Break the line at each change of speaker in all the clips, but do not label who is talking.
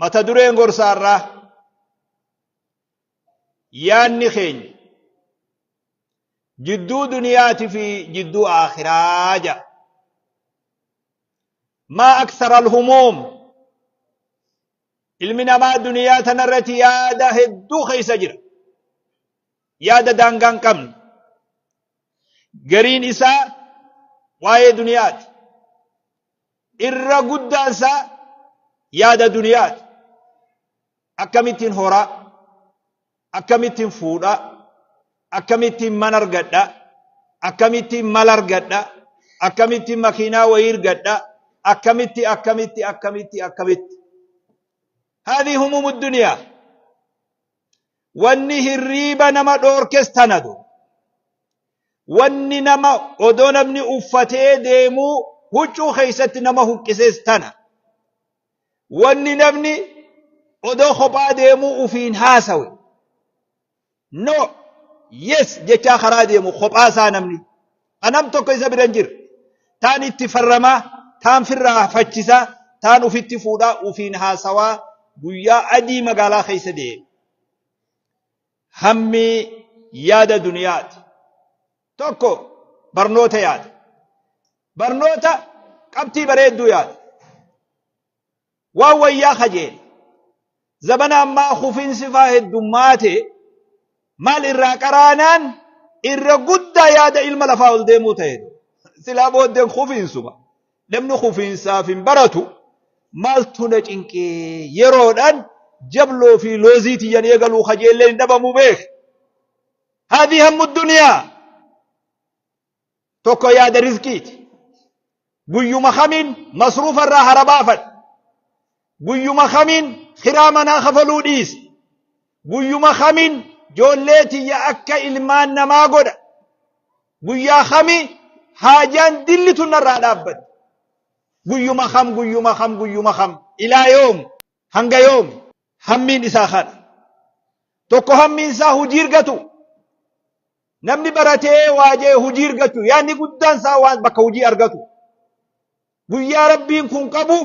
mata dureen gorsaa irraa yaanni keenya jidduu duniyaati fi jidduu aakhiraa ja maa aksara alhumuum ilmi namaa duniyaa tanarratti yaada hedduu keessa jira yaada daangaa hin qabne gariin isaa waa'ee duniyaati irra guddaan isaa yaada duniyaati. Akkamittiin horaa, akkamittiin fuudhaa, akkamittiin man argadhaa, akkamittiin mal argadhaa, akkamittiin makiinaa wayii argadhaa, akkamitti akkamitti akkamitti akkamitti. Haadhi humumu duniyaa. Wanni hirriiba nama dhoorkes tanadu. Wanni nama odoo namni uffatee deemuu huccuu keessatti nama huqqises tana. Wanni namni odoo kophaa deemuu ufiin haasawe. No, yes jechaa karaa deemu kophaa isaa namni. ka nam tokko isa bira hin jirre, taan itti farramaa, taan firraa hafachisaa, taan ufitti fuudhaa ufiin haasawaa guyyaa adii magaalaa keessa deeme. Hammi yaada duniyaati. Tokko barnoota yaada. Barnoota qabxii bareedduu yaada. waan wayyaa kajeele zabana ammaa kufinsi faa heddummaate maal irraa qaraanaan irra guddaa yaada ilma lafaa ol deemuu ta'e silaa booddeen kufiinsuma namni kufiinsaaf hin baratu maaltu na cinqee yeroodhaan jabloo fi loozii tiyyan eegaluu kajeellee hin dhabamu beek haadhi hammu duniyaa tokko yaada rizqiiti guyyuma kamiin masruufa irraa harabaafadha guyyuma kamiin kiraa manaa kafaluu dhiisa guyyuma kamiin joollee tiyya akka ilmaan namaa godha guyyaa kamii haajaan dilli tun narraa dhaabbatti guyyuma kam guyyuma kam guyyuma kam ilaa yoom Hanga yoomi? Hammiin isaa kana. Tokko hammiin isaa hojii argatu. Namni baratee waajee hojii argachuu yaadni guddaan isaa waan bakka hojii argatu. Guyyaa rabbiin kun qabu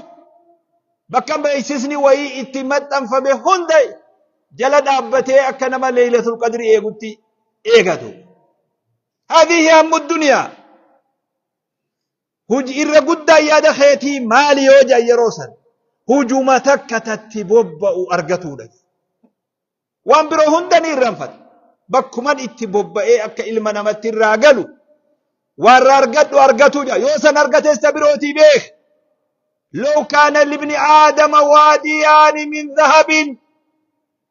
bakka beeksisni wayii itti maxxanfame hunda jala dhaabbatee akka nama leeylatul qadri eegutti eegatu. Hadihi hammu duniyaa. Huji irra guddaan yaada keetii maali yoo jedhan yeroo san hujuma takka tatti bobba'u argatuudha. Waan biroo hunda ni irranfata. Bakkuman itti bobba'ee akka ilma namatti irraa galu warra argadhu argatu jedha. Yoo san argates ta birootii beek. Loo kaana libni aadama waadiyaani min zahabin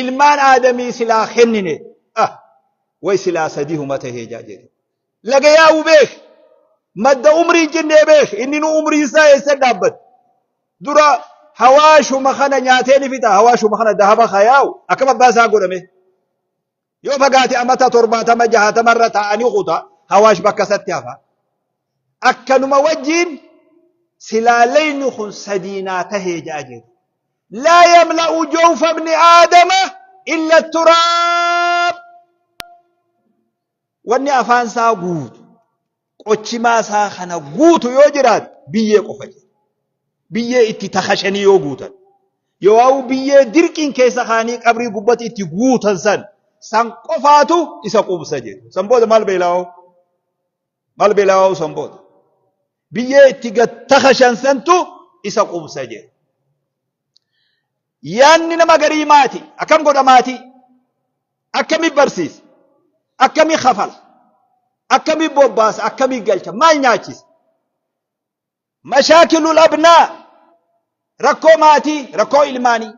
ilmaan aadamii silaa kennine ah way silaa sadihuma tahee jaa jedhe laga yaa'u beek madda umrii jinnee beek inni nu umriin isaa eessa dhaabbate dura hawaashuma kana nyaatee ni fixa hawaashuma kana dahaba ka yaa'u akkam abbaa isaa godhame yoo fagaate amata torbaatama jahatama irra taa'anii kuta hawaash bakka isatti hafa akkanuma wajjiin silaa leyni kun sadii naa tahee ja'a jedhu laa yamla'u jawfa ibni aadama illa turaab wanni afaan isaa guutu qochimaa isaa kana guutu yoo jiraate biyyee qofa jedhu biyyee itti takashanii yoo guutan yoo biyyee dirqiin keessa kaanii qabrii gubbatti itti guutan san san qofaatu isa quubsa jedhu san booda maal beela'oo Mal belaa'uu san booda. Biyyee itti gad takashan santu isa qubsa jedhe. Yaanni nama garii maati. Akkam godha maatii? Akkami barsiisa? Akkami kafala? Akkami bobbaasa? Akkami galcha? Maal nyaachisa? Mashaakilul abnaa rakkoo maatii, rakkoo ilmaanii.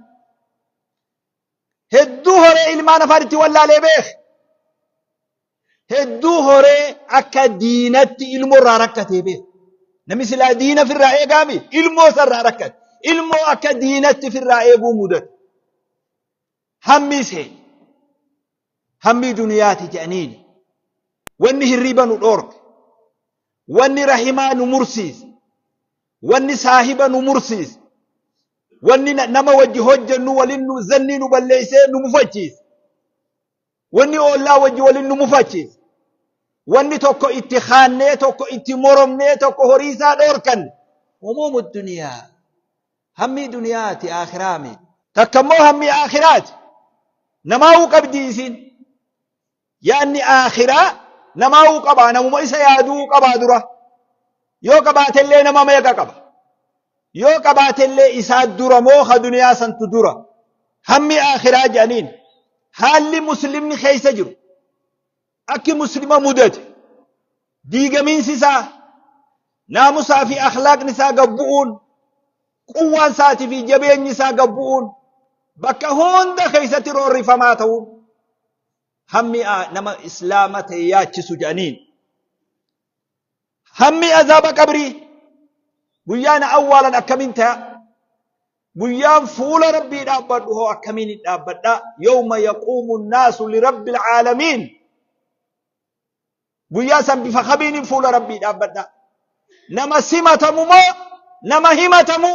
hedduu horee ilmaan afaan itti wallaalee beeke. Hedduu horee akka diinatti ilmoo irraa rakkatee beeke. Namni silaa diina firraa eegaami ilmoo isarraa rakkate. Ilmoo akka diinatti firraa eeguu mudate. Hammi ishee hammii duniyaati jedhaniini wanni hirriiba nu dhoorke wanni rahimaa nu mursiise wanni saahiba nu mursiise wanni na- nama wajji hojjennu walin nu zannii nu balleeysee nu mufachiise wanni oollaa wajji walin nu mufachiise wanni tokko itti kaannee tokko itti moromnee tokko horii isaa dhoorkanne humuumu duniyaa Hammii duniyaati aakhiraa mee. Takka immoo hammii aakhiraati. Namaahuu qabdii isiin. Yaanni aakhiraa namaahuu qabaa namuma isa yaaduu qabaa dura. Yoo qabaatellee nama meeqa qaba. Yoo qabaatellee isaa dura moo ka duniyaa santu dura. Hammii aakhiraa jedhaniin haalli muslimni keessa jiru. Akki Muslima mudate diigamiinsi isaa naamusaa fi akhlaaqni isaa gad bu'uun quwwaan isaatii fi jabeenyi isaa gad bu'uun bakka hunda keessatti roorrifamaa ta'uun hammi nama islaama ta'e yaachisu jedhaniin. Hammi azaaba qabrii guyyaa na awwaalan akkamiin taya? Guyyaan fuula Rabbii dhaabbadhu hoo akkamiin hin dhaabbadha? Yawma yaquumu naasu lirabbil caalamiin. Guyyaa san bifa kamiin fuula Rabbii dhaabbadha? Nama simatamu moo nama himatamu?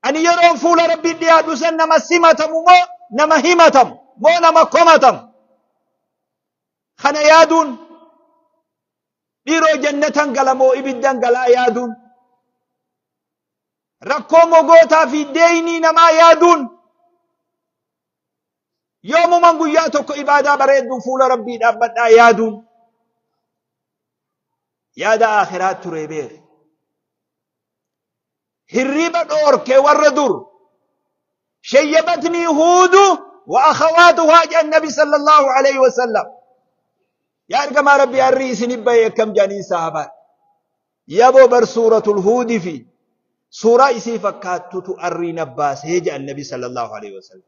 Ani yeroon fuula Rabbii dhiyaadhu san nama simatamu moo nama himatamu? Moo nama komatamu? Kana yaaduun dhiiroo jannatan gala moo ibiddan galaa yaaduun rakkoo mogootaa fi deeynii namaa yaaduun yoomuman guyyaa tokko ibaadaa bareedduu fuula rabbii dhaabbadhaa yaaduun yaada aakhiraa turee beere. Hirriba dhoorke warra dur. Shayyabatnii huudu wa akhawaatuhaa jedhan nabi sallallahu alayhi wa sallam. Yaa ergamaa rabbi harrii isinif bahe akkam jedhaniin sahaabaan. Yaboo bar suuratul huudi fi suuraa isii fakkaattutu harrii nabbaasee jedhan nabi sallallahu alayhi wa sallam.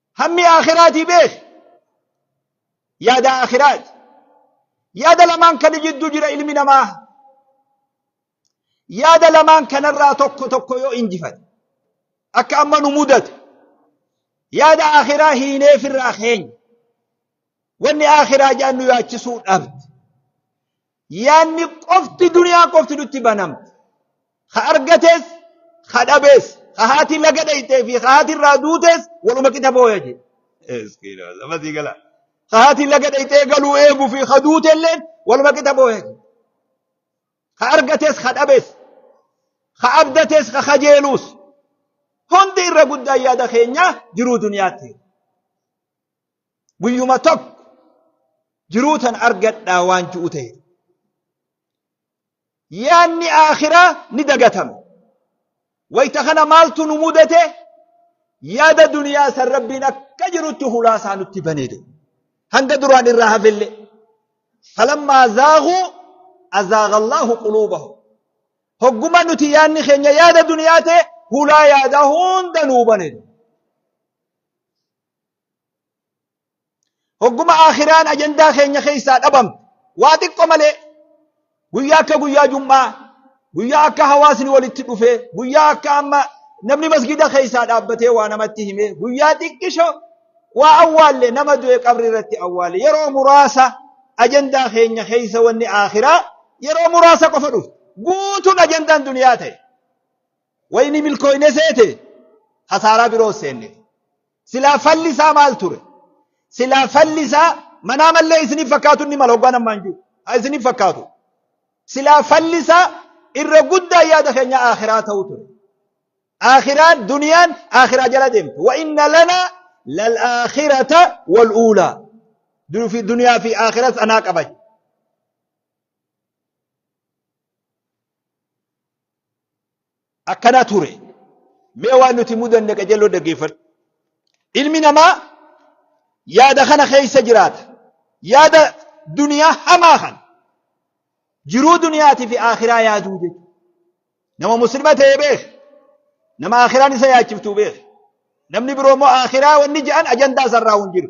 Hammi aakhiraatii beeki. Yaada aakhiraati. Yaada lamaan kana jidduu jira ilmi namaa. Yaada lamaan kanarraa tokko tokko yoo injifate akka amma nu mudate yaada aakhiraa hiineef irraa keenya wanni aakhiraa jedhan nu yaachisuu dhabde. Yaanni qofti duniyaa qofti nutti banamti. Ka argates, ka dhabes, ka haati laga dhayxee fi ka haati irraa duutes waluma qixa booya jedhe. Eskiin amasii gala. Ka haati laga dhayxee galuu eegu fi ka duute illeen waluma qixa booya jedhe. Ka argates, ka dhabes, ka abdates, ka kajeelus hundi irra guddaan yaada keenya jiruu duniyaatti. guyyuma tokko jiruu tan argadhaa waan ji'u ta'e yaanni aakhiraa ni dagatama wayta kana maaltu nu mudate yaada duniyaa san rabbiin akka jirutti hulaasaa nutti baneede hanga duraan irraa hafelle falammaa zaaguu azaaga allaahu quluubahum hogguma nuti yaanni keenya yaada duniyaa ta'e hulaa yaadaa hunda nuu baneede Hogguma akhiraan ajandaa keenya keessaa dhabamte waa xiqqo malee guyyaa akka guyyaa jum'aa guyyaa akka hawaasni walitti dhufee guyyaa akka amma namni masgida keessaa dhaabbatee waa namatti himee guyyaa xiqqisho waa awwaalle nama du'e qabri irratti awwaalle yeroo muraasa ajandaa keenya keessa wanni akhiraa yeroo muraasa qofa dhufu guutuun ajandaan duniyaa ta'e wayni milkooyne seete hasaaraa biroo seenne. Silaa falli isaa maal ture? Silaa falli isaa manaa mallee isiniif fakkaatu inni mala hoggaan ammaan jiru. Haa isiniif fakkaatu. Silaa falli isaa irra guddaa yaada keenya akhiraa ta'u ture. Akhiraan duniyaan akhiraa jala deemte. Wa inna lanaa lal akhirata wal uulaa. Durufi duniyaa fi akhiras anaa qabache. akkanaa ture mee waan nuti mudanne qajeeloo dhaggeeffadhu ilmi namaa yaada kana keessa jiraata yaada duniyaa hamaa kan jiruu duniyaatii fi akhiraa yaaduu jechuudha nama muslima ta'e beek nama akhiraan isa yaachiftuu beek namni biroo immoo akhiraa wanni je'an ajandaa isarraa hin jiru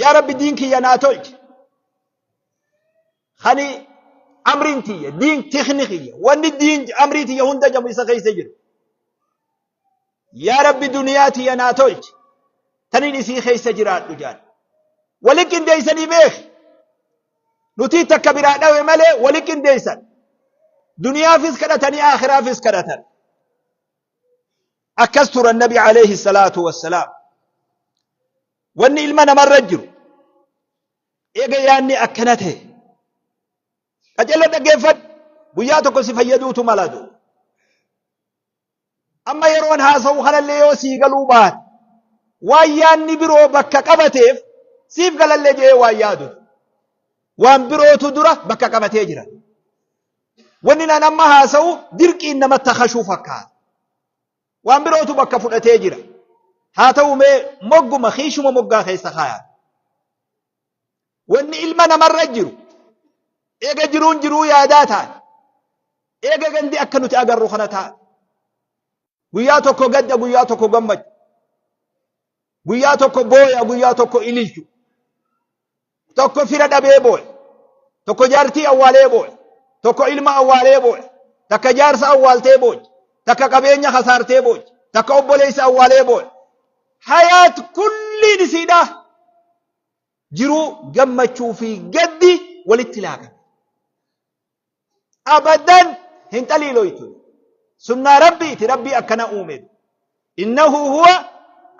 yaa rabbi diin kiyya naa tolchi kani amriin tiyya diin tikni kiyya wanni diin amrii tiyya hunda jamu isa keessa jiru yaa rabbi duniyaa tiyya naa tolchi tanin isii keessa jiraadhu jaan wali qindeeysanii beeki nutii takka biraa dhawe malee wali qindeeysan duniyaafis kadhatanii aakhiraafis kadhatan Akkas turan nabi alayhi salaatu wassalaam. Wanni ilma namarra jiru eega yaanni akkana ta'e qajeeloo dhaggeeffadhu guyyaa tokko si fayyaduutu malatu. Amma yeroon haasa'u kanallee yoo sii galuu baate waan yaanni biroo bakka qabateef siif galallee jedhee waan yaadu waan birootu dura bakka qabatee jira. Wanni nan amma haasa'u dirqiin nama takashuu fakkaata. Waan birootu bakka fudhatee jira. Haa ta'u mee mogguma kiishuma moggaa keessa kaayaa. Wanni ilma namarra jiru eega jiruun jiruu yaadaa taate. Eega gandi akka nuti agarru kana taate. Guyyaa tokko gadda guyyaa tokko gammachuu. Guyyaa tokko booya, guyyaa tokko ililchu. Tokko fira dhabee booya. Tokko jaartii awwaalee booya. Tokko ilma awwaalee booya. Takka jaarsa awwaaltee booya. Takka qabeenya hasaartee booya. Takka obboleessa awwaalee booya. Hayaat kulliin isiidhaa. Jiruu gammachuu fi gaddi walitti laaqame. abadan hin xaliiloytu sunnaa rabbiiti rabbii akkana uumeef innahu huwa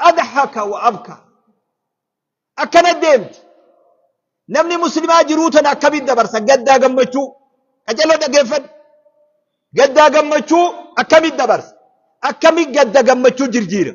adhaka wa abka akkana deemti namni muslimaa jiruu tana akkamitti dabarsa gaddaa gammachuu qacello dhaggeeffadhu gaddaa gammachuu akkamitti dabarsa akkamitti gadda gammachuu jirjiira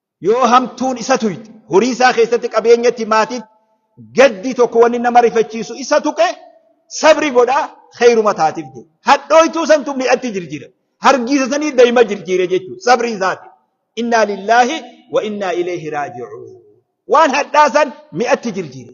Yoo hamtuun isa tuyte, horii isaa keessatti, qabeenyatti, maatiitti, gaddi tokko wanni nama rifachiisu isa tuqe, sabri godhaa, kheeyruma taatiif jedhe. Hadhooytuu santu mi'atti jirjiire. Hargiisa sanii dayma jirjiire jechuudha. Sabrii isaati. Innaa lillaahi wa innaa ileeyhi raaji'uun. Waan hadhaa san mi'atti jirjiire.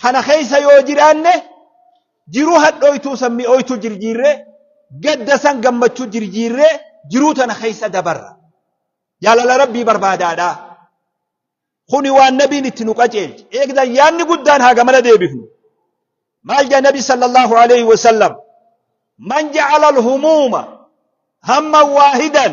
kana keessa yoo jiraanne jiruu hadhooytuu san mi'ooytu jirjiirree gadda san gammachuu jirjiirree jiruu tana keessa dabarra jaalala rabbii barbaadaadha kuni waan nabiin itti nu qaceelche eegdan yaanni guddaan haa gamana deebifnu maal jaa nabi sallallahu alaihi wasallam man ja'ala alhumuuma hamma waahidan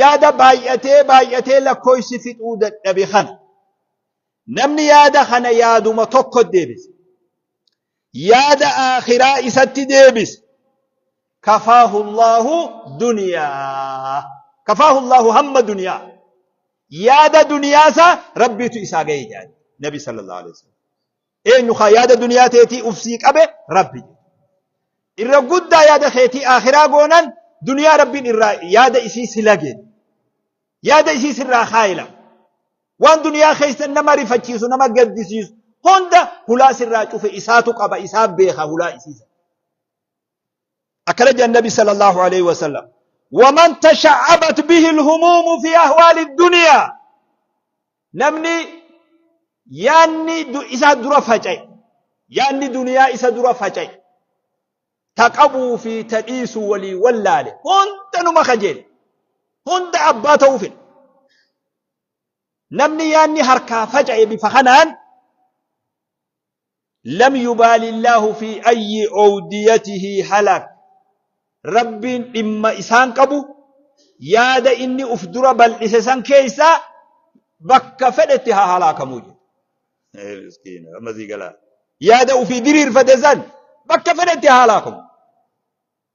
Yaada baay'atee baay'atee lakkooysi fixuu dadhabe kana namni yaada kana yaaduma tokko deebise. Yaada aakhiraa isatti deebise. Kafaahu Allaahu duniyaa. Kafaahu Allaahu hamma duniyaa. Yaada duniyaa isaa Rabbiitu isaa ga'e jedhan Nabi sallallahu alaihi wasallam. Eenyu ka yaada duniyaa teetii uf sii qabe? Rabbi jedhe. Irra guddaa yaada keetii aakhiraa goonan duniyaa Rabbiin irraa yaada isii si lage. Yaada isii sirraa kaayila. Waan duniyaa keessa nama rifachiisu nama gaddisiisu hunda hulaa sirraa cufe isaatu qaba isaa beeka hulaa isii sana. akkana jedhan nabi sallallahu alaihi wasallam waman tasha'abat bihi alhumumu fi ahwaali dunya namni yaanni du- isa dura faca'e yaanni duniyaa isa dura faca'e taqabuu fi tadhiisu walii wallaale hunda numa kajeele hunda abbaa ta'uu fedhe namni yaanni harkaa faca'e bifa kanaan Lam yubaali Allaahu fi ayyi owdiyatihi halak Rabbiin dhimma isaan qabu yaada inni uf dura bal'ise san keeysaa bakka fedhetti haa halaakamuu jedhe. Ee miskiina amma sii galaa. Yaada ufii diriirfate san bakka fedhetti haa halaakamu.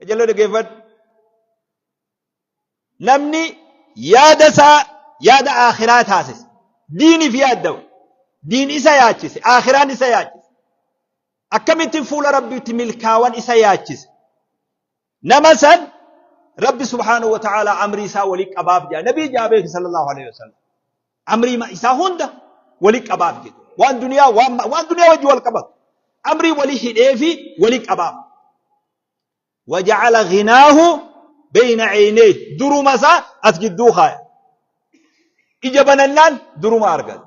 Qajeeloo dhaggeeffadhu. Namni yaada isaa yaada akhiraa taasise. Diiniif yaaddawa. Diin isa yaachise. Akhiraan isa yaachise. Akkamittiin fuula Rabbiitti milkaawan isa yaachise. Nama san Rabbi subhaanahu wa ta'aalaa amrii isaa waliin qabaaf jedha. Nabii jaabee sallallahu alaihi wasallam. Amrii ma- isaa hunda wali qabaaf jedhu. Waan duniyaa waan ma- waan duniyaa wajji wal qabatu. Amrii wali hidhee fi wali qabaaf. Waja'ala ghinaahu beeyna ceynee duruma isaa as gidduu kaaya. Ija banannaan duruma argata.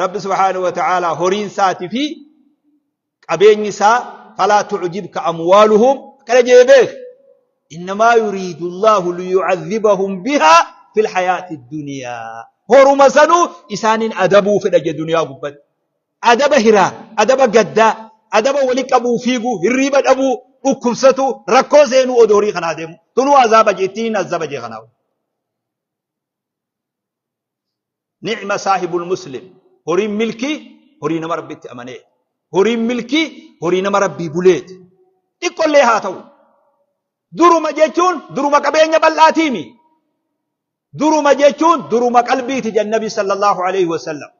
Rabbi subhaanahu wa ta'aalaa horiin isaatii fi qabeenyi isaa falaa tu'jibka amwaaluhum akkana jee beek innamaa yuriidu Allaahu liyu'adhibahum bihaa fil hayaati duniyaa horuma sanuu isaaniin adabuu fedha jee duniyaa gubbatti adaba hiraa adaba gaddaa adaba wali qabuu fiiguu hirriiba dhabuu dhukkubsatu rakkoo seenuu odoo horii kanaa deemu tunuu azaaba jee ittiin azaba jee kanaa Ni'ma saahibul muslim. Horiin milkii horii nama Rabbitti amaneeti. Horiin milkii horii nama Rabbii buleeti. Xiqqollee haa ta'u. Duruma jechuun duruma qabeenya bal'aatiimi. Duruma jechuun duruma qalbiiti jedhan Nabi sallallahu alaihi wasallam.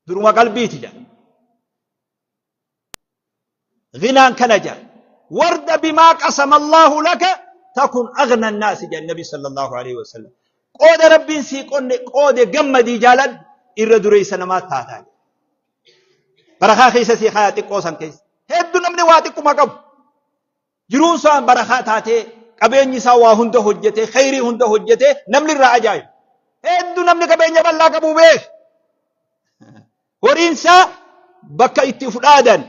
Duruma qalbiiti jedhan. Ghinaan kana jedha. Warda bimaa qasama Allaahu laka takun aghna annaasi jedha Nabi sallallahu alaihi wasallam. Qooda Rabbiin sii qonne qoode gammadii jaaladhu irra dureessa namaa taataa. Barakaa keessa sii kaayaa xiqqoo san keessa. Heddu namni waa xiqquma qabu. Jiruun isaa barakaa taatee, qabeenyi isaa waa hunda hojjetee, kheyrii hunda hojjetee namni irraa ajaa'ibu. Hedduu namni qabeenya bal'aa qabu beeka. Horiin isaa bakka itti uf dhaadan,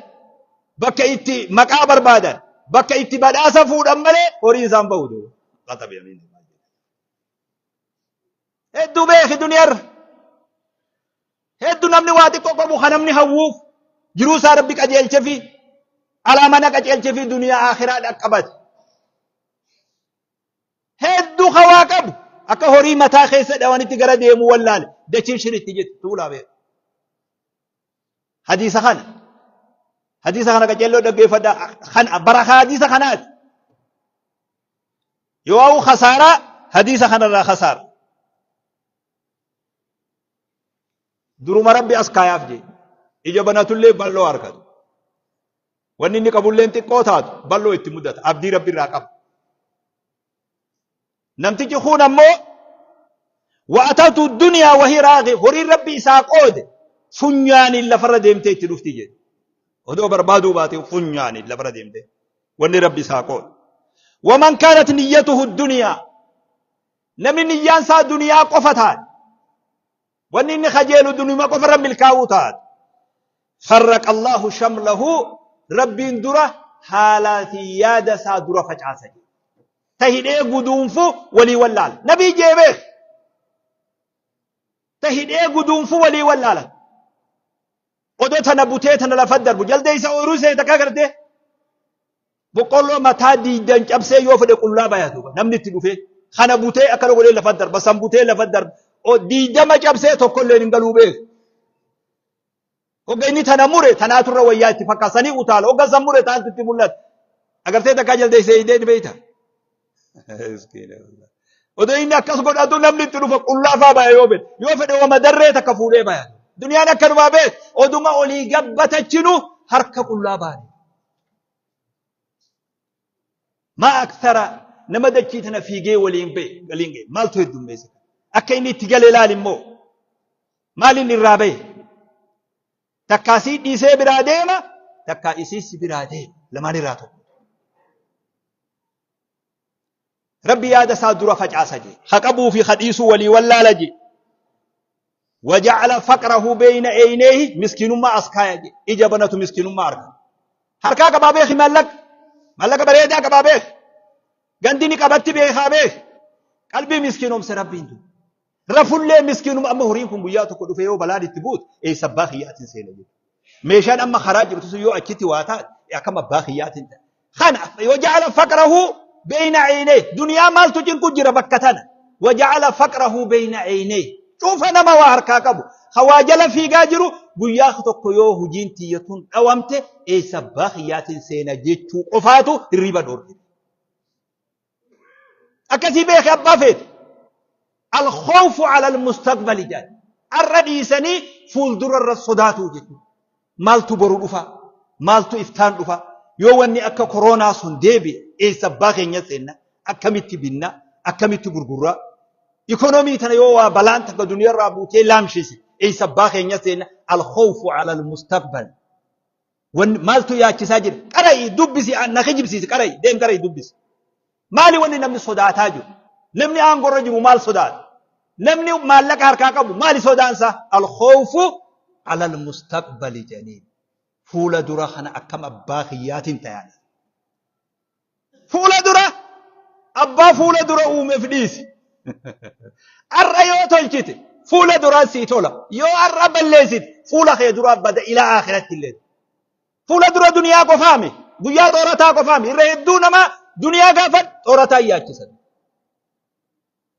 bakka itti maqaa barbaadan, bakka itti badhaasa fuudhan malee horiin isaan bahu ta'u. Qaxabe amiin. Hedduu beeki duniyarra. Hedduu namni waa xiqqoo qabu kan namni hawwuuf jiruu isaa rabbi qajeelche fi alaa mana qajeelche fi duniyaa akhiraa dhaqqabate. Hedduu kan waa qabu akka horii mataa keessa dhawanitti gara deemu wallaale dachiin shiritti jetti tuulaa beeku. Hadiisa kana. Hadiisa kana qajeelloo dhaggeeffadha. Kan bara hadiisa kanaati. Yoo'aa'u khasaaraa hadiisa kanarraa khasaara. Duruma rabbi as kaayaaf jee ija banatullee bal'oo argatu. Wanni inni qabulleen xiqqoo taatu bal'oo itti mudata. Abdii rabbi irraa qaba. Namtichi kun ammoo wa'atatu duniyaa wahii raaqee horiin rabbi isaa qoode funyaaniin lafarra deemtee itti dhufti jedhe. Odoo barbaaduu baate funyaaniin lafarra deemtee. wanni rabbi isaa qoode waman kaanat niyyatuhu duniyaa namni niyyaan isaa duniyaa qofa taate wanni inni kajeelu dunuma qofa irra milkaa'uu taate farraqa allahu shamlahu rabbiin dura haalaa fi yaada isaa dura facaasa ta hidhee guduunfu walii wallaala nabii jeebeef ta hidhee guduunfu walii wallaala Odoo tana butee tana lafa darbu jaldeessa ooyiruu seeta akka gartee boqqolloo mataa diiddan cabsee yoo fedhe qullaa bayatu namni itti dhufee kana butee akkana godhee lafa darba san butee lafa darba O- diiddama cabsee tokkolleen hin galuu beeku. Hogga inni tana mure tanaa turre wayyaa itti fakkaasanii utaala hogga san mure taantu itti mul'ata. Agartee takkaa jaldeessa eeydee ni beeyta. Miskiina wallah. Odoo inni akkas godhatu namni itti dhufa qullaafaa baya yoo fedhe. Yoo fedhe wama darree takka fuudhee baya. Duniyaan akkanumaa beet oduma olii gabbatachinu harka qullaa baane. Maa aksara nama dachii tana fiigee waliin ba'e waliin ga'e maaltu heddummeessa. Akka inni itti gale ilaali immoo maaliin irraa ba'e. Takkaa sii dhiisee biraa deema, takkaa isii si biraa deema. Lamaan irraa tokko. Rabbi yaada isaa dura facaasa jee. Ha qabuu fi ha dhiisuu walii wallaala jee. Waja'ala faqrahu beeyna eeyneehi miskiinummaa as kaaya jee. Ija banatu miskiinummaa arga. Harkaa qabaa beeki maallaqa. Maallaqa bareedaa qabaa beeki. Gandi ni qabatti beekaa beeki. Qalbii miskiinoomse rabbiin tu. Rafullee miskiinuma amma horiin kun guyyaa tokko dhufee yoo balaan itti buutu eessa abbaa kiyyaatiin seena jedhu. Meeshaan amma karaa jirtu sun yoo achitti waa taate akkam abbaa kiyyaatiin ta'a. Kana yoo ja'ala faqrahu beeyna eeynee duniyaa maaltu cinqu jira bakka tana. Waja'ala faqrahu beeyna eeynee cufa nama waa harkaa qabu. Hawaa jala fiigaa jiru guyyaa tokko yoo hojiin tiyyatuun dhawamte eessa abbaa kiyyaatiin seena jechuu qofaatu hirriiba dhoorgite. akkasii beeke abbaa feete alkhawfu ala almustaqbali jedhan arra dhiisanii fuuldura irra sodaatuu jechuudha maaltu boru dhufa maaltu iftaan dhufa yoo wanni akka koroonaa sun deebi'e eessa abbaa keenya seenna akkamitti binna akkamitti gurgurraa ikonomii tana yoo waa balaan takka duniyaa irraa buutee laamshise eessa abbaa keenya seenna alkhawfu ala almustaqbal Wanni maaltu yaachisaa jira? Qara'i dubbisi na kijibsiisi qara'i deem qara'i dubbisi. Maali wanni namni sodaataa jiru? Namni aangorra jiru maal sodaata? Namni maallaqa harkaa qabu maali sodaansaa? Alkhoofu alal mustaqbali jedhanii fuula dura kana akkam abbaa kiyyaatiin tayaadha. Fuula dura abbaa fuula dura uumeef dhiisi. Har'a yoo tolchite fuula duraan sii tola. Yoo har'a balleessite fuula kee duraa bada ilaa akhiratti illee. Fuula dura duniyaa qofaami. Guyyaa xoorataa qofaami. Irra hedduu namaa duniyaa gaafa xoorataa yaachisan.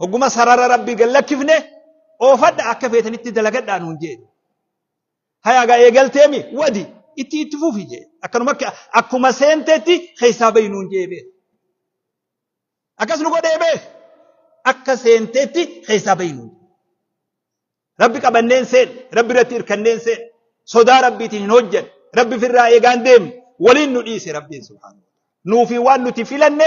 Hogguma sarara Rabbii gad lakkifne oofadha akka feetanitti dalagadhaa nuun jee. Hayaagaa eegalteemi wadi itti itti fufi jee. Akkanuma akka akkuma seentetti keessaa bahi nuun jee beeku. Akkas nu godhee beeku. Akka seentetti keessaa bahi nuun jee. Rabbi qabanneen seen, Rabbi irratti hirkanneen seen, sodaa Rabbiitiin hin hojjan, Rabbi firraa eegaan deemne, waliin nu dhiise Rabbiin subhaanahu. Nuufi waan nuti filanne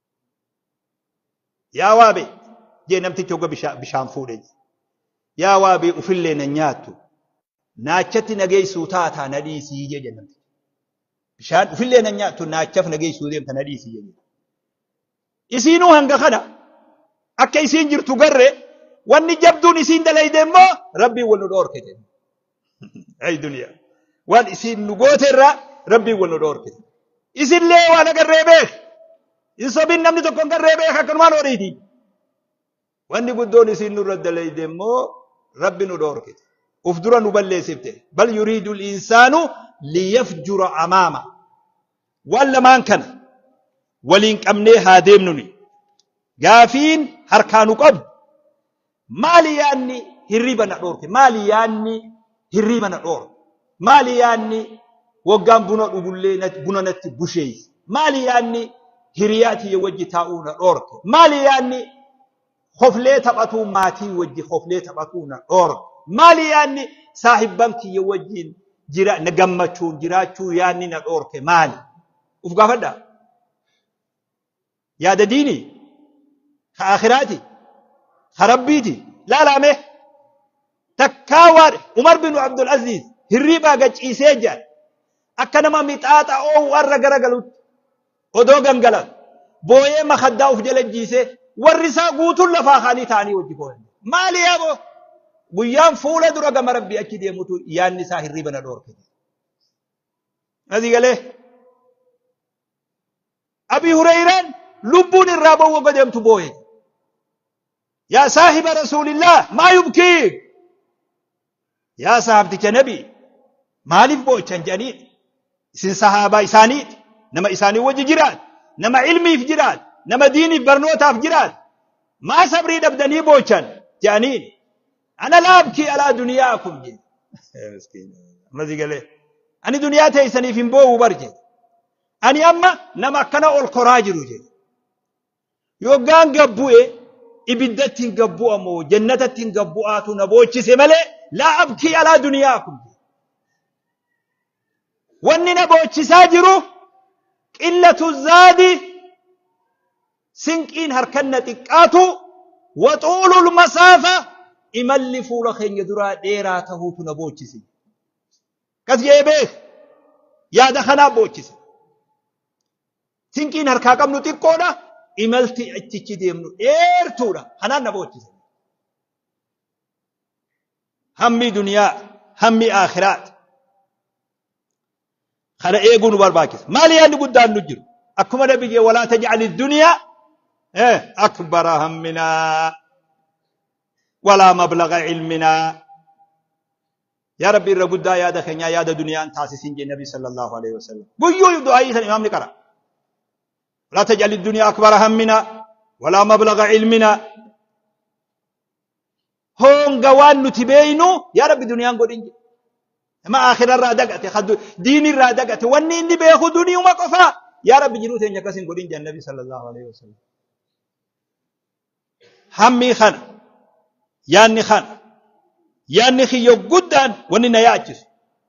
Yaa waabee jee namtichi hogga bisha- bishaan fuudhe jee. Yaa waabee ufillee na nyaattu naachatti na geessuu taataa na dhiisii jee jee namtichi. Bishaan ufillee na nyaattu naachaf na geessuu deemta na dhiisii jee. Isiinuu hanga kana akka isiin jirtu garre wanni jabduun isiin dalayde immoo rabbiin wal nu dhoorke jedhe. Ay duniyaa. Waan isiin nu goote irraa rabbiin wal nu dhoorkite. Isillee waan agarree beek. Hin sobin namni tokko hin garree beek akkanumaan horiiti. Wanni guddoon isiin nurra dalayde immoo rabbi nu dhoorkite. Uf dura nu balleessifte. Bal yuriidu insaanu liyafjura amaama. Waan lamaan kana waliin qabnee haa deemnuni. Gaafiin harkaa nu qabu. Maali yaanni hirriiba na dhoorke? Maali yaanni hirriiba na dhoorke? Maali yaanni waggaan buna dhugullee nat- buna natti busheesse? Maali yaanni hiriyaa tiyya wajji taa'uu na dhoorke? Maali yaanni hoflee taphatuu maatii wajji hoflee taphatuu na dhoorke? Maali yaanni saahibban kiyya wajjiin jira na gammachuun jiraachuu yaanni na dhoorke maali? Uf gaafadhaa. yaada diinii ka akhiraati ka rabbiiti laalaame takkaa waan umar bin abdul aziz hirriibaa gachiisee jedhan akka nama mixaaxa oowu arra garagalutti odoo gangalan booyee makaddaa uf jala jiisee warri isaa guutuun lafaa kaanii ta'anii wajji booyan maali yaaboo guyyaan fuula dura gama rabbii achi deemutu yaanni isaa hirriiba na dhoorke. Asii galee Abii Hureeyraan lubbuun irraa ba'uu wagga deemtu booye. Yaa saahiba Rasuulillah maa yubkiik? Yaa sahaabticha Nabii maaliif boo'ichan jedhaniin? Isin sahaabaa isaaniiti. Nama isaanii wajji jiraat. Nama ilmiif jiraat. Nama diiniif barnootaaf jiraat. Maa sabrii dhabdanii boochan jedhaniin. Ana laabkii alaa duniyaa kun jedhe. Ammas galee. Ani duniyaa teessaniif hin boo'u bar jedhe. Ani amma nama akkana ol koraa jiru jedhe. Yoggaan gad bu'e ibiddatti hin gad bu'a moo jannatatti hin gad bu'aatu na boochise malee laa abkii alaa duniyaa kun. Wanni na boochisaa jiru qillatu zaadi sinqiin harkan na xiqqaatu waxuulul masaafa imalli fuula keenya duraa dheeraa tahuutu na boochise. Kas je'ee beek yaada kanaa boochise. Sinqiin harkaa qabnu xiqqoodha. Imalti achichi deemnu dheertuudha. Kanaan na boochise. Hammi duniyaa, hammi aakiraat. Kana eeguu nu barbaachisa. Maali yaadni guddaan nu jiru? Akkuma nabiyyee walaa taj'ali duniyaa akbara hamminaa walaa mablaga ilminaa Yaa Rabbi irra guddaa yaada keenyaa yaada duniyaan taasisiin jee Nabi sallallahu alaihi wasallam. Guyyuu du'aayii san imaamni qara. Walaa taj'alid duniyaa akbara hammina walaa mablaga ilmina. Hoonga waan nuti beeynu yaa Rabbi duniyaan godhin jee. Nama akhira irraa dagate diini irraa dagate wanni inni beeku duniyuma qofaa. Yaa Rabbi jiruu teenya akkas hin godhin jee Nabi sallallahu alaihi wasallam. Hammii kana, yaanni kana, yaanni kiyya guddaan wanni na yaachisu,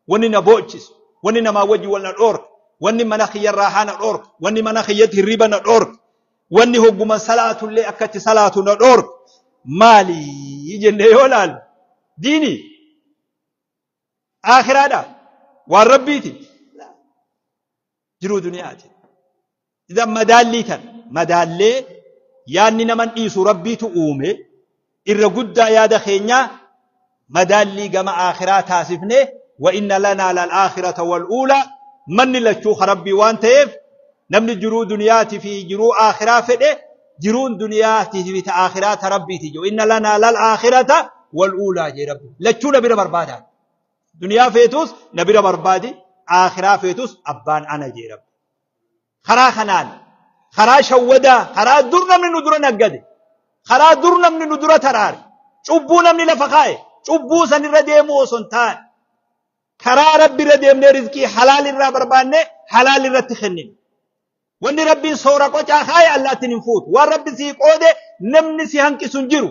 wanni na boochisu, wanni namaa wajji wal na dhoorka, wanni mana kiyya raahaa na dhoorka, wanni mana kiyyatti hirriba na dhoorka, wanni hogguman salaatullee akka itti salaatu na dhoorka maali jennee yoo laalu diini aakiraadha waan rabbiiti jiruu duniyaati. Idan madaallii tan madaallee yaadni naman dhiisu rabbiitu uume irra guddaa yaada keenyaa madaallii gama aakhiraa taasifne wa inna lanaa lal aakhirata wal uulaa manni lachuu ka rabbii waan ta'eef namni jiruu duniyaati fi jiruu aakhiraa fedhe jiruun duniyaati fi ta aakhiraa ta rabbiiti jiru inna lanaa lal aakhirata wal uulaa jee rabbi lachuu na bira barbaadaa Duniyaa feetuus na bira barbaadi, aakhiraa feetuus abbaan ana jee rabbi. Karaa kanaan, karaa shawwadaa, karaa dur namni nu dura naggade, karaa dur namni nu dura taraare, cubbuu namni lafa kaa'e, cubbuu san irra deemuu osoo hin taane, karaa rabbi irra deemnee rizqii halaal irraa barbaannee halaal irratti kennine. Wanni rabbiin soora qocaa kaa'e allaattiin hin fuutu. Waan rabbi sii qoode namni si hanqisu hin jiru.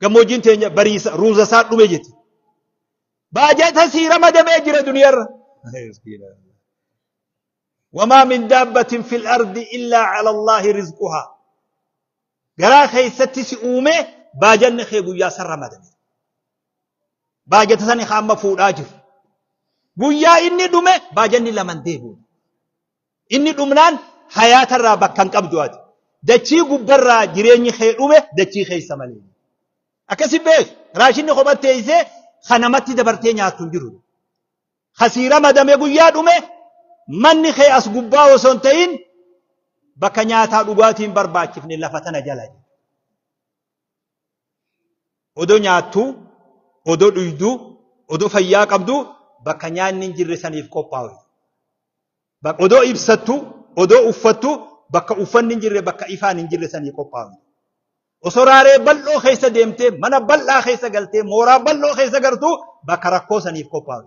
Gammoojjiin teenya bariisa ruuza isaa dhume jette. Baajata sii ramadamee jira duniyarra. Wamaa min daabbatin fil ardi illaa ala Allaahi rizquhaa. Garaa keessatti si uume baajanni kee guyyaa san ramadame. Baajata sani haa amma fuudhaa jiru. Guyyaa inni dhume baajanni laman deebi'u. Inni dhumnaan hayaata irraa bakka hin qabdu ati. Dachii gubba irraa jireenyi kee dhume dachii keessa malee. Akkasi beeki. Raashinni kophatti teessee kan namatti dabartee nyaattu hin jiru. Kasiira madame guyyaa dhume manni kee as gubbaa osoo hin ta'in bakka nyaataa dhugaatiin barbaachifne lafa tana jala. Odoo nyaattuu, odoo dhuyduu, odoo fayyaa qabduu bakka nyaanni hin jirre saniif qophaa'u. Odoo ibsattuu, odoo uffattuu bakka uffanni hin jirre, bakka ifaan hin jirre sanii qophaa'u. Osoo raaree bal'oo keessa deemtee, mana bal'aa keessa galtee, mooraa bal'oo keessa gartuu bakka rakkoo saniif qophaa'u.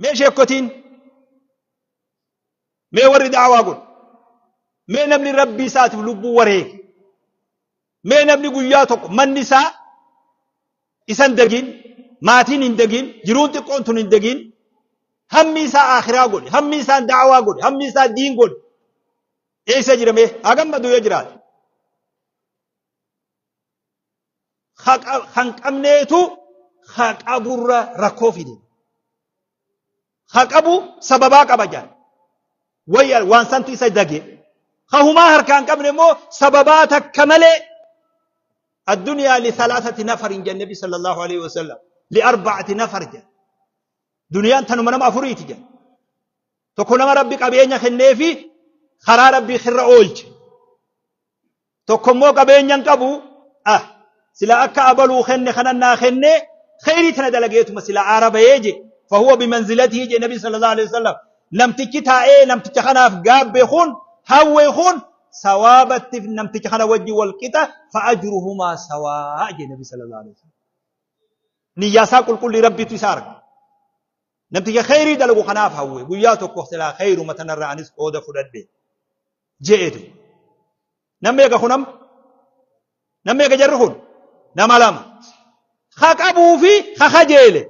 mee sheekkotiin mee warri daawaa godhu mee namni rabbii isaatiif lubbuu wareege mee namni guyyaa tokko manni isaa isan dagiin maatiin hin dagiin jiruun xiqqoon tun hin dagiin hammi isaa akhiraa godhe hammi isaa daawaa godhe hammi isaa diin godhe eessa jira mee haa gammadu yoo jiraate kan qabneetu ha qaburra rakkoo fide. Ha qabu sababaa qaba jedhan. Wayya waan santu isa dage. Ha humaa harkaan qabne immoo sababaa takka malee addunyaa li salaasati nafar hin jenne nabi sallallahu alaihi wasallam li arba'ati nafar jedhan. Duniyaan tanuma nama afuriiti jedhan. Tokko nama rabbi qabeenya kenneefi karaa rabbii irra oolche. Tokko immoo qabeenya hin qabu. Ah, sila akka abaluu kenne kanan naa kenne kheyrii tana dalageetuma sila aara bahee je. Fahuwa bimanzilatii je nabi sallallahu alaihi wasallam. Namtichi taa'ee namticha kanaaf gaabbe kun hawwe kun sawaabatti namticha kana wajji wal qixa fa'ajruhumaa sawaa je nabi sallallahu alaihi wasallam. Niyyaa isaa qulqullii rabbitu isa arga. Namticha kheyrii dalagu kanaaf hawwe. Guyyaa tokko silaa kheyruma tanarraa anis qooda fudhadhe. Je'etu. Namni eega kun amma? Namni eega jarri kun? Nama lama. Ha qabuu fi ha kajeele.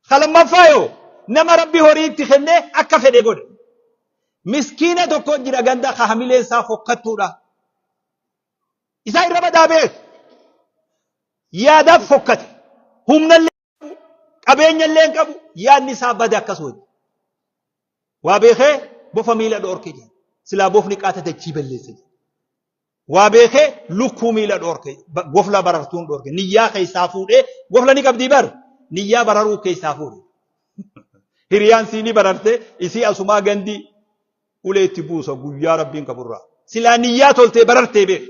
Ka lammaffaa yoo nama rabbi horii itti kennee akka fedhe godhe. Miskiina tokko jira ganda ka hamileen isaa fokkattuudha. Isaa irra badaa beeku. Yaadaaf fokkate. Humnallee. qabeenya illee hin qabu yaadni isaa bade akkas wajji. Waa beekee bofa miila dhoorke jedhe. Silaa bofni qaata dachii balleesse jedhe. Waa beekee lukkuu miila dhoorke gofla barartuun dhoorke niyyaa keessaa fuudhee gofla ni qabdii bar niyyaa bararuu keessaa fuudhe. Hiriyaan sii ni bararte isii asumaa gandii ulee itti buusa guyyaa rabbiin qaburraa. Silaa niyyaa toltee barartee beeku.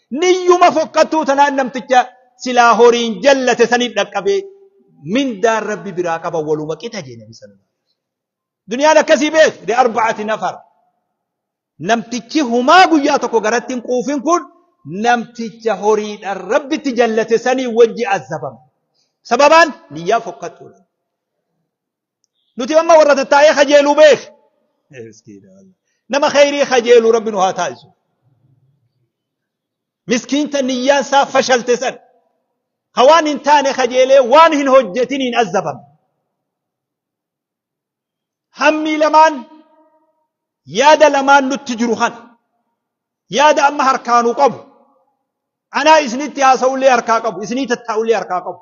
Niyyuma fokkattuu tanaan namticha silaa horiin jallate saniif dhaqqabee mindaan rabbi biraa qaba waluma qixa jee nabi sallallahu alaihi wasallam. Duniyaan akkasii beek li arba'ati nafar. Namtichi humaa guyyaa tokko garatti hin quufin kun namticha horiidhaan rabbitti jallate sanii wajji azabama. Sababaan niyyaa fokkattuudha. nuti amma warra tattaa'ee kajeelu beek nama khayrii kajeelu rabbi nu haa taasisu miskiinta niyyaan isaa fashalte san ka waan hin taane kajeelee waan hin hojjetin hin azzabame hammii lamaan yaada lamaan nutti jiru kana yaada amma harkaanu qabu anaa isinitti haasa'ullee harkaa qabu isinii tattaa'ullee harkaa qabu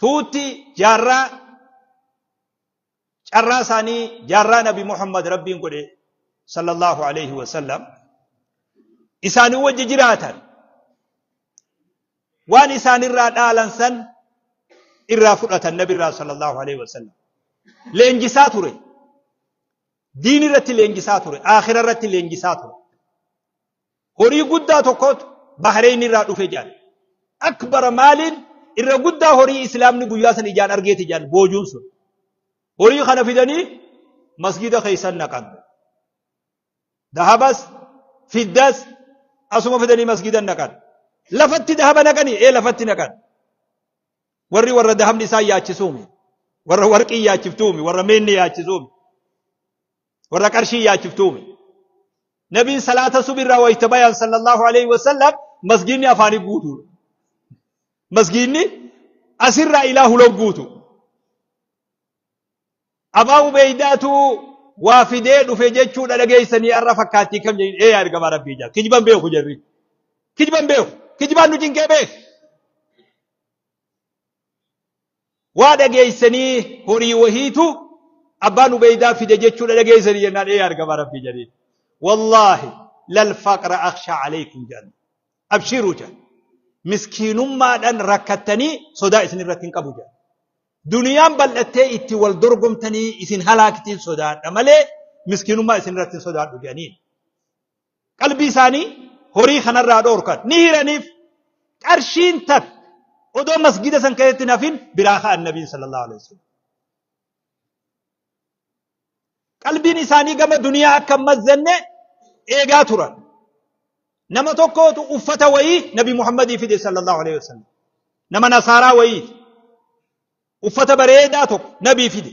tuutti jaarraa carraa isaanii jaarraa nabi Muhammad rabbiin godhe sallallahu alaihi wasallam isaanii wajji jiraatan waan isaanirraa dhaalan san irraa fudhatan nabirraa sallallahu alaihi wasallam leenjisaa ture diin irratti leenjisaa ture aakhira irratti leenjisaa ture Horii guddaa tokkotu Bahreeyn irraa dhufe jedhan. Akbara maaliin irra guddaa horii Islaamni guyyaa san ijaan argeeti jedhan boojuun sun. Horii kana fidanii masgiida keessan naqan. Dahabas, fiddas asuma fidanii masgiidan naqan. Lafatti dahaba naqanii ee lafatti naqan. Warri warra dahabni isaan yaachisuumi. Warra warqii yaachiftuumi. Warra meenni yaachisuumi. warra qarshii yaachiftuume nabiin salaata subirraa wayta bayan sallallahu alaihi wasallam masgiinni afaanii guutuudha masgiinni asirraa ilaa hulan guutu abaa ubeeydaatu waa fidee dhufe jechuudha dhageessanii arra fakkaattii kam jedhin ee argamaa rabbii jaa kijban beeku jarri kijban beeku kijbaan nu cinqee beeku Waa dhageessanii horii wahiitu abbaan ubeeydaa fide jechuudha dhageessanii jennaan ee argama rabbii jedheen wallaahi lal faqra akshaa aleykum jedhan abshiiruu jedhan miskiinummaadhaan rakkattanii sodaa isin irratti hin qabu jedhan duniyaan bal'attee itti wal dorgomtanii isin halaaktiin sodaadha malee miskiinummaa isin irratti hin sodaadhu jedhaniin qalbii isaanii horii kanarraa dhoorkan ni hiraniif qarshiin tak odoo masgida san keessatti hin hafin biraa ka'an nabiin sallallahu alaihi wasallam qalbiin isaanii gama duniyaa akka hin mazzanne eegaa turan nama tokkootu uffata wayii nabi muhammadii fide sallallahu alaihi wasallam nama nasaaraa wayiiti uffata bareedaa tokko nabii fide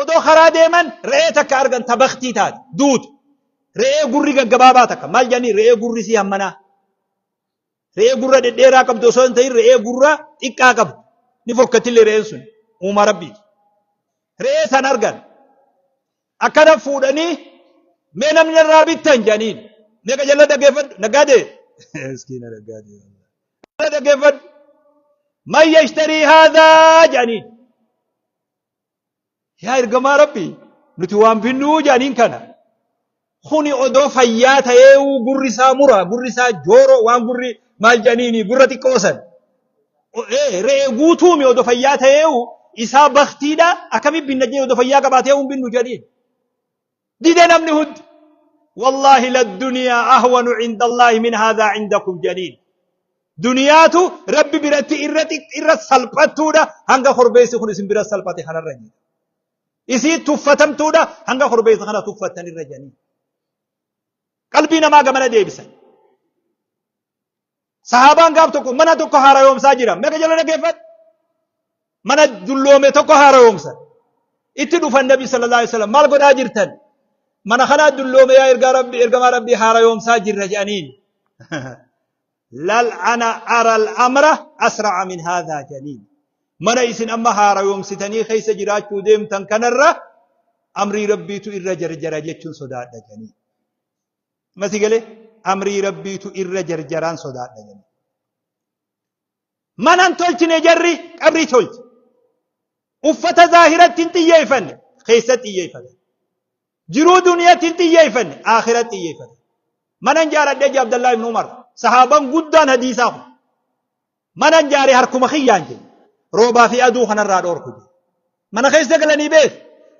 Odoo karaa deeman re'ee takka argan ta baktii taate, duute. Re'ee gurri gaggabaabaa takka. Maal jedhanii re'ee gurri isii hammanaa. Re'ee gurra dhedheeraa qabdu osoo hin ta'in re'ee gurra xiqqaa qabdu. Ni fokkattillee re'een sun uumaa rabbiiti. Re'ee san argan. Akkana fuudhanii mee namni irraa bittan jedhaniin. Meeqa jalla dhaggeeffadhu naggaadee. Miskiina naggaadee. Jalla dhaggeeffadhu. Man yashtarii haadhaa jedhaniin. yaa ergamaa rabbi nuti waan binnuu jedhaniin kana kuni odoo fayyaa ta'ee gurri isaa mura gurri isaa jooroo waan gurri maal jedhaniini gurra xiqqoo san re'ee guutuumi odoo fayyaa ta'ee isaa baktiidha akkami binna jedhee odoo fayyaa qabaatee hin binnu jedhiin. dide namni hundi wallaahi ladduniyaa ahwanu cinda allaahi min haadaa cindakum jedhaniin duniyaatu rabbi biratti irra xiq- irra salphattuudha hanga korbeessi kun isin bira salphate kanarra jedhe isii tuffatamtuudha hanga korbeessa kana tuffattan irra jedhanii qalbii namaa gamana deebisan Sahaabaan gaaf tokko mana tokko haarayoomsaa jira. Meeqa jala dhaggeeffadhu? Mana dulloome tokko haarayoomsan. Itti dhufan Nabi sallallahu alaihi wasallam maal godhaa jirtan? Mana kanaa dulloome yaa ergaa Rabbi ergamaa Rabbi haarayoomsaa jirra jedhaniin. Lal ana aral amra asra'a min haadhaa jedhaniin. Mana isin amma haarayoomsitanii keessa jiraachuu deemtan kanarra amrii Rabbiitu irra jarjara jechuun sodaadha jedhaniin. Mati galee amrii rabbiitu irra jarjaraan sodaadha jenna. Manan tolchine jarri qabrii tolche. Uffata zaahiratti hin xiyyeeffanne keessa xiyyeeffate. Jiruu duniyatti hin xiyyeeffanne aakhira xiyyeeffate. Manan jaaradhe je Abdallaa ibn Umar sahaaban guddaan hadiisaa kun. Manan jaare harkuma kiyyaan jedhe. Roobaa fi aduu kanarraa dhoorku jedhe. Mana keessa galanii beek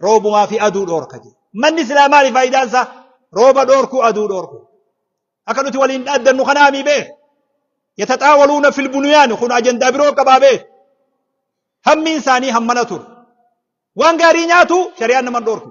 roobumaa fi aduu dhoorka jedhe. Manni silaa maali faayidaan isaa? Rooba dhoorku aduu dhoorku. Akka nuti waliin dhaaddannu kanaa mii beek. Yataxaawaluuna fil buniyaan kun ajandaa biroo qabaa beek. Hammiin isaanii hammana ture. Waan gaarii nyaatu shari'aan naman dhoorku.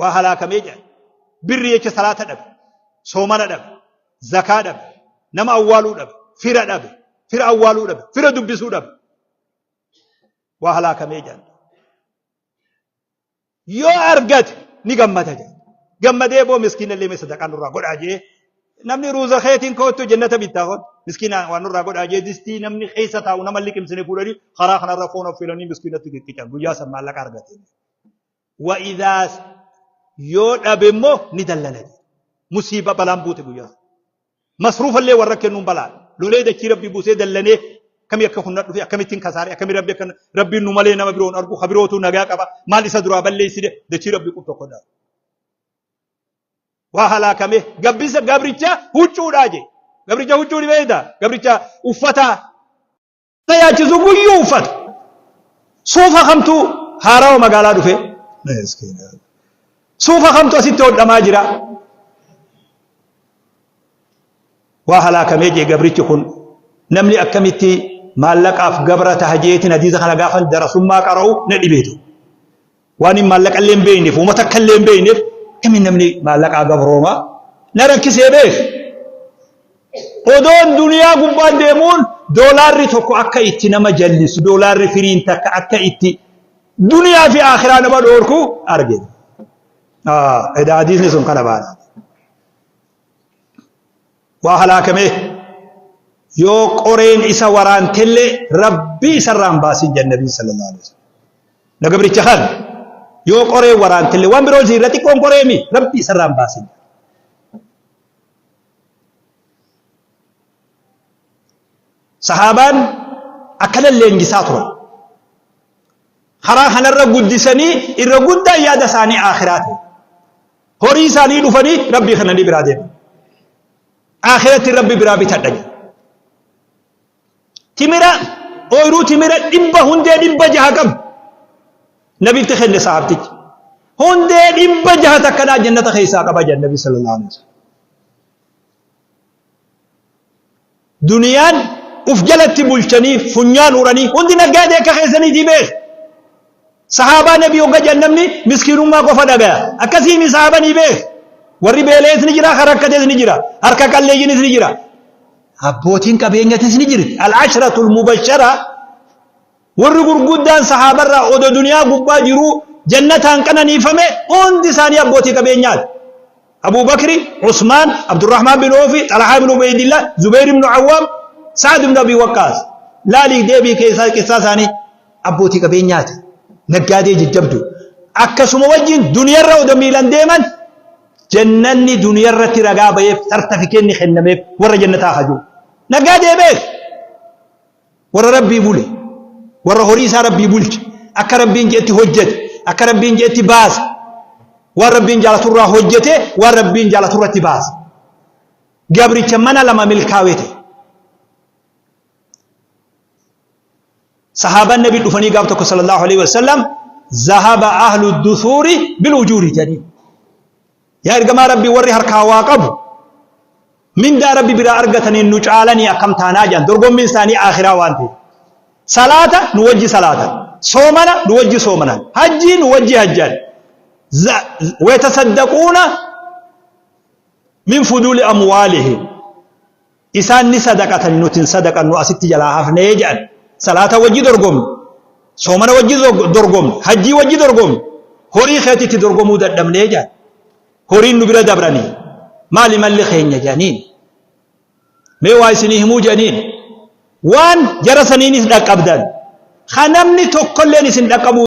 waa halaakamee jedhan birri jecha salaata dhabe soomana dhabe zakaa dhabe nama awwaaluu dhabe fira dhabe fira awwaaluu dhabe fira dubbisuu dhabe waa halaakamee jedhan yoo argate ni gammada jedhan gammadee boo miskiina illee sadaqaa nurraa godhaa jee namni ruuza keetiin koottu jennata bittaa koon miskiina waan nurraa godhaa jee distii namni keessa taa'u nama liqimsine fuudhanii karaa kanarra foon affeelanii miskiinatti qiccican guyyaa san maallaqa argate. wa idhaa yoo dhabe immoo ni dallana musiiba balaan buute guyyaa sana. masruufa illee warra kennuun balaa lolee dachii rabbii buusee dallanee akkamii akka kunna dhufe akkamittiin kasaare akkamii rabbi akka rabbiin nu malee nama biroon argu ha birootu nagaa qaba maal isa duraa balleessine dachii rabbii kun tokko dhaa waa halaakame gabbisa gabricha huccuudhaa jee gabricha huccuu ni beekta gabricha uffataa tajaachisu guyyuu uffata. Suufa kamtu haarawa magaalaa dhufe? Suufa kamtu asitti hodhamaa jira? Waa halaakamee jee gabrichi kun namni akkamitti maallaqaaf gabra taha jeetiin hadiisa kana gaafan darasummaa qara'u na dhibeetu. Waan hin maallaqa illee hin beekneef, uuma takka illee hin beekneef, kami namni maallaqaa gabrooma? Na rakkisee beek. Odoon duniyaa gubbaan deemuun doolaarri tokko akka itti nama jallisu, doolaarri firiin takka akka itti duniyaa fi akhiraa nama dhoorku arge. Edaa hadiisni sun kana baana. waa halaakamee yoo qoreen isa waraantellee rabbii isarraa hin baasin jedhan nabiin sallallahu alaihi wasallam. Na gabricha kan yoo qoreen waraantellee waan biroo ziirra xiqqoon qoreemi rabbii isarraa hin baasin. Sahaabaan akkana leenjisaa turan. Karaa kanarra guddisanii irra guddaan yaada isaanii aakhiraa ta'e. Horii isaanii dhufanii rabbii kana ni biraa deema. Aakhiratti rabbi biraa bitadha jedha. Timira ooyiruu timira dhibba hundee dhibba jaha qabu. Nabitti kenne sahaabtichi. Hundee dhibba jaha takkanaa jannata keessaa qaba jedha nabi sallallahu alaihi wasallam. Duniyaan uf jalatti bulchanii funyaan uranii hundi naggaadee akka keessaniitii beeka. Sahaabaa nabii hogga jedhan namni miskiinummaa qofa dhagaya. Akkasii mi sahaaba ni beeka. Warri beela'es ni jira, kan rakkates ni jira, harka qalleeyyinis ni jira. Abbootiin qabeenyatis ni jirti. Al-ashratul mubashara Warri gurguddaan sahaabarraa odo duniyaa gubbaa jiruu jannataan qananiifame hundi isaanii abbootii qabeenyaati. Abuu Bakri, Usmaan, Abdurrahmaan bin Oofi, Xalhaa ibn Ubeydillah, Zubeyr ibn Awwaam, Sa'ad ibn Abii Waqqaas. Laalii deebii keessaa qissaa isaanii abbootii qabeenyaati. Naggaadee jajjabdu. Akkasuma wajjin duniyarra odo miilan deeman jannanni duniyarratti ragaa ba'eef sartafikeenni kennameef warra jannataa hajuu. Naggaadee beek. Warra Rabbii bule, warra horii isaa Rabbii bulche, akka Rabbiin je'etti hojjate, akka Rabbiin je'etti baase, waan Rabbiin jaalatu irraa hojjate, waan Rabbiin jaalatu irratti baase. Gabricha mana lama milkaawee ta'e. Sahaabaan Nabii dhufanii gaaf tokko sallallahu alaihi wasallam zahaba ahlu dusuuri bil ujuuri jedhanii. Yaa ergamaa Rabbii warri harkaa waa qabu mindaa Rabbi biraa argataniin nu caalanii akkam taanaa jedhan dorgommiin isaanii aakhiraa waan ta'eef. Salaata nu wajji salaatan. Soomana nu wajji soomanan. Hajjii nu wajji hajjan. Za- Wayatasaddaquuna min fuduuli amwaalihim. Isaan ni sadaqatan nuti hin sadaqannu asitti jalaa hafne jedhan. Salaata wajji dorgomne, soomana wajji dorgomne, hajjii wajji dorgomne, horii keetitti dorgomuu dadhabne jedhan. Horiin nu bira dabranii maali malli keenya jedhaniin. Mee waa isinii himuu jedhaniin. Waan jara saniinis dhaqqabdan. Kan namni tokkolleen isin dhaqqabuu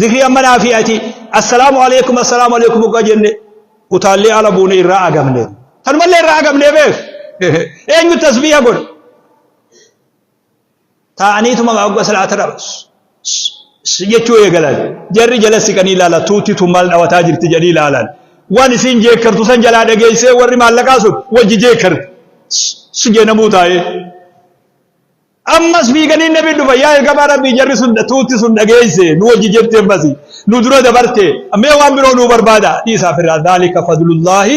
Zikrii amma naa fi ati assalaamu alaikum assalaamu alaikum hoggaa jenne utaallee ala buune irraa agamne. Tanumallee irraa agamne beek. Eenyu tasbiiha godha. Taa'aniituma hogga salaata dhabas. jechuu eegalan. Jarri jala siqanii ilaala tuutti tun maal dhawataa jirti jedhanii ilaalan. Waan isiin jeekkartu san jalaa dhageessee warri maallaqaa sun wajji jeekkarti. Si jeenamuu taa'ee. Ammas fiiganii nabi dhufa yaa ergamaa rabbii jarri sun tuutti sun dhageesse nu wajji jirti ammasi nu dura dabarte mee waan biroo nuu barbaada dhiisaa firraa dhaalika fadlullaahi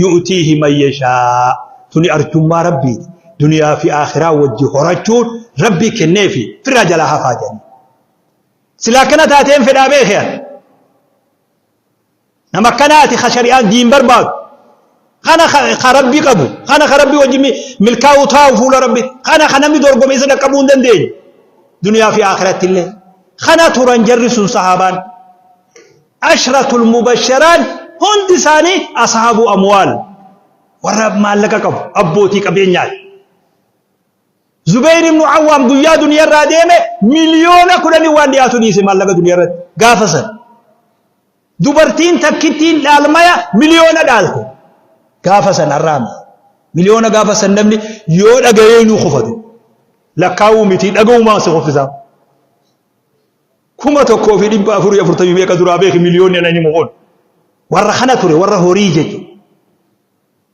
yu'tiihi man yashaa tuni arjummaa rabbiiti duniyaa fi aakhiraa wajji horachuun rabbii kenneefi firraa jalaa hafaa jedhanii silaa akkana taateen fedhaa beekhe ani Nama akkanaati ka shari'aan diin barbaadu. Kana ka ka rabbi qabu. Kana ka rabbi wajjin mi- milkaa'uu taa'u fuula rabbi. Kana ka namni dorgomee isa dhaqqabuu hin dandeenye. Duniyaa fi akhiratti illee. Kana turan jarri sun sahaabaan. Ashratul mubasharaan hundi isaanii ashaabuu amwaal. Warra maallaqa qabu abbootii qabeenyaati. Zubayr ibn Awwaam guyyaa duniyaa irraa deeme miliyoona kudhanii waan dhiyaatu dhiise maallaqa duniyaa irratti gaafa san. Dubartiin takkittiin dhaalmaya miliyoona dhaalte gaafa san har'aami. Miliyoona gaafa san namni yoo dhagayee nuu kufatu lakkaa'uu miti dhaga'umaan si kuffisaa. Kuma tokkoo fi dhibba afurii afurtamii meeqa duraa beeki miliyoonni anani mo'oon. Warra kana ture warra horii jechuudha.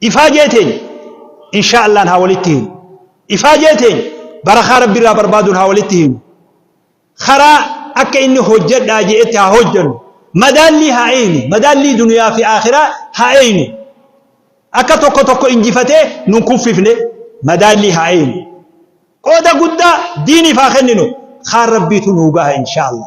Ifaajee teenya insha'allaan haa walitti hinu. Ifaajee teenya barakaa Rabbi irraa barbaaduun haa walitti hinu. Karaa akka inni hojjedhaa je'etti haa hojjennu. Madaallii haa eeynu. Madaallii duniyaa fi aakhiraa haa eeynu. Akka tokko tokko injifatee nun kuffifne madaallii haa eeynu. Qooda guddaa diiniif haa kenninu. Kaan Rabbiitu nuu gaha insha'allah.